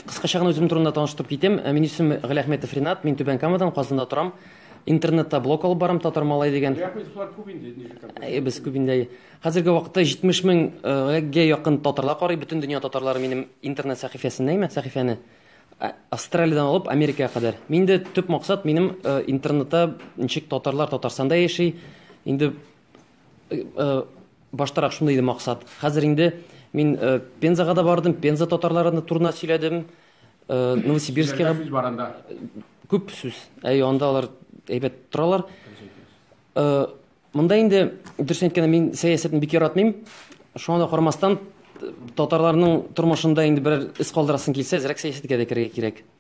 Кыскача гына үзем турында таныштырып китим. Минем исем Галиәхметов Ринат, мин Түбән Камадан, Казанда торам. Интернетта блог алып барам, Татар малай дигән. Галиәхметовлар күп инде, ничек контакт? Без күп инде. Хәзерге вакытта 70 меңгә якын татарлар карый, бөтен дөнья татарлары минем интернет сәхифәсендә, имә сәхифәне. Австралиядән алып Америкага кадәр. Мин дә төп максат минем интернетта ничек татарлар Татарстанда яши, инде Баштарак шундый иде максат. Хәзер инде мин Пензага да бардым, Пенза татарларына турына сөйләдем. Новосибирскига сүз бар анда. Күп сүз. Әй, анда алар әйбәт торалар. Монда инде дөрес әйткәндә мин сәясәтне бик яратмыйм. Шуңа да карамастан, татарларның тормышында инде берәр эз калдырасың килсә, әзрәк сәясәткә дә керергә кирәк.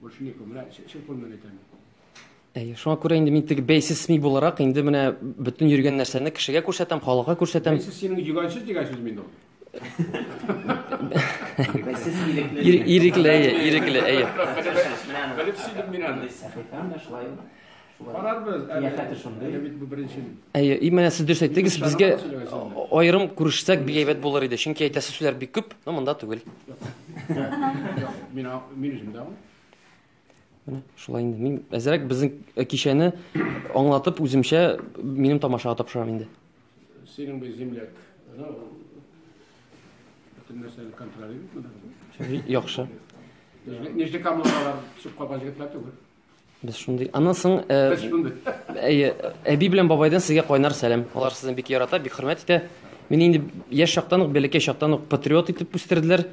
Больше некому. Менә чын кулмен әйтәм. Әйе, шуңа күрә инде мин теге бәйсез СМИ буларак инде менә бөтен йөргән нәрсәне кешегә күрсәтәм, халыкка күрсәтәм. Бәйсез синең йөгәнсез дигән сүз мин ул. Бәйсез ирекле. Ирекле, әйе, ирекле, әйе. Белеп сөйлим мин аны. Сәхифәм дә шулай. Карарбыз. Кыяфәте шундый. Әле бит бу беренче. Әйе, и менә сез дөрес әйттегез, безгә аерым күрешсәк бик әйбәт булыр иде, чөнки әйтәсе сүзләр бик күп, но монда түгел. Мин мин үзем дә. Менә шулай инде. Мин әзрәк безнең э, кичәне аңлатып үземчә минем тамашага тапшырам инде. Синең бу земляк. Бөтен нәрсәне контролировать. Яхшы. Нижнекамлылар чукка бажгытлар түгел. Без шундый. Аннан соң әйе, әби белән бабайдан сезгә кайнар сәлам. Алар сезне бик ярата, бик хөрмәт итә. Мине инде яшь чактан ук, бәләкәй чактан ук патриот итеп үстерделәр.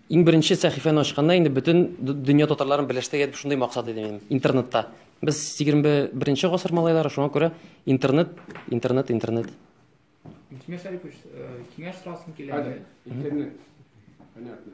Иң беренче сәхифәне ачканда инде бөтен дөнья татарларын берләштерергә дип шундый максат иде минем интернетта. Без 21-нче гасыр малайлары, шуңа күрә интернет, интернет, интернет. Киңәш сорасым килә. Интернет. Понятно.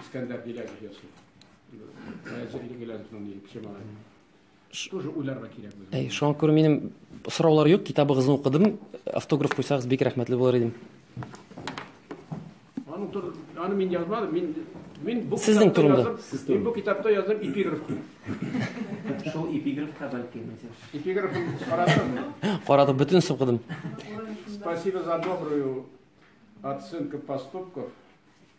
Искәндәр Гиләзов ясый. Хәзерге Гиләзовның ни кеше малай. Тоже уйларга кирәк без. Әй, шуңа күрә минем сораулар юк, китабыгызны укыдым. Автограф куйсагыз бик рәхмәтле булыр идем. Аны тур, аны мин язмадым, мин мин бу Сезнең китапта турында. язып, Сез турында. мин бу китапта яздым эпиграф. Шул эпиграфка бәлки мәсәл. Эпиграф карадыңмы? Карадым, бөтенесен укыдым. Спасибо за добрую оценку поступков.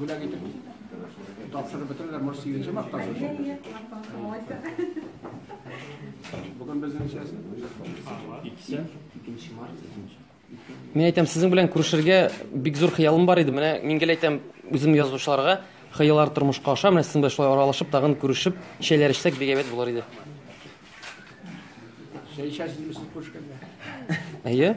Бүләк итеп тапшырып бетерәләр, может, сигезенче мартта шул. Бүген безнең ничәсе? Икесе. Икенче март, икенче. Мин әйтәм, сезнең белән күрешергә бик зур хыялым бар иде. Менә мин гел әйтәм, үзем язучыларга хыяллар тормышка аша, менә сезнең белән шулай аралашып, тагын күрешеп, чәйләр эчсәк, бик әйбәт булыр иде. Чәй эчәсезме сез күрешкәндә? Әйе.